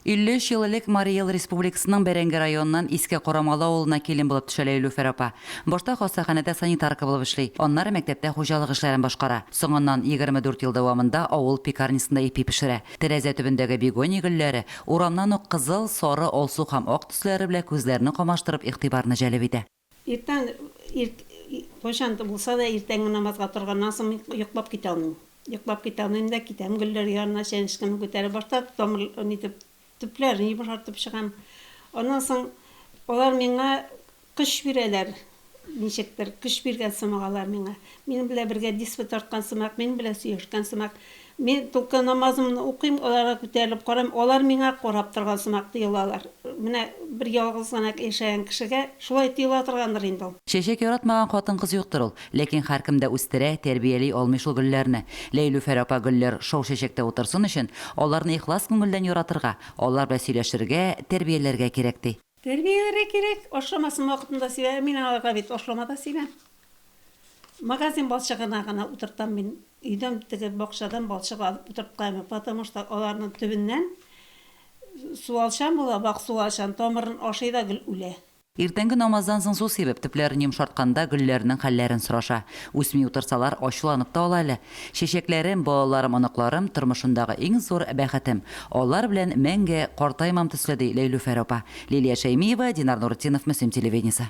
53 ел элек Марий Эл Республикасының Бәрәңге районыннан Иске Корамалы авылына килен булып төшә Ләйлүфәр апа. Башта хастаханәдә санитарка булып эшли, аннары мәктәптә хуҗалык эшләрен башкара. Соңыннан, 24 ел дәвамында авыл пекарнясында ипи пешерә. Тәрәзә төбендәге бегония гөлләре, урамнан ук кызыл, сары, алсу һәм ак төсләре белән күзләрне камаштырып, игътибарны җәлеп итә. Иртән ирт кайчан да булса да иртәнге намазга торганнан соң мин йоклап китә алмыйм. Йоклап китә алмыйм да китәм гөлләр янына чәнечкемне күтәреп башта тамыр нитеп төпләрен йомшартып чыгам. Аннан соң алар миңа көч бирәләр ничектер, көч биргән сымак алар миңа. Минем белән бергә диспо тарткан сымак, минем белән сөйләшкән сымак. Мин только намазымны укыйм, аларга күтәрелеп карыйм, алар миңа карап торган сымак тоелалар. Менә бер ялгыз гына яшәгән кешегә шулай тоела торгандыр инде ул. Чәчәк яратмаган хатын-кыз юктыр ул. Ләкин һәркем дә үстерә, тәрбияли алмый шул гөлләрне. Ләйлүфәр апа гөлләр шау чәчәктә утырсын өчен, аларны ихлас күңелдән яратырга, алар белән сөйләшергә, тәрбияләргә кирәк, ди. Тәрбияләргә кирәк, ашламасын вакытында сибә, мин аларга бит ашлама да сибәм. Магазин балчыгына гына утыртам мин, өйдән теге бакчадан балчык алып утырткаймын, потому что аларның төбеннән суалчан була, вак суалчан, тамырын ашый да гел үлә. Иртәнге намаздан соң су сибеп, төпләрен йомшартканда гөлләрнең хәлләрен сораша. Үсми утырсалар, ачуланып та ала әле. Чәчәкләрем, балаларым, оныкларым, тормышымдагы иң зур бәхетем. Алар белән мәңге картаймам төсле, ди Ләйлүфәр апа. Лилия Шәймиева, Динар Нуретдинов, Мөслим телевидениесе.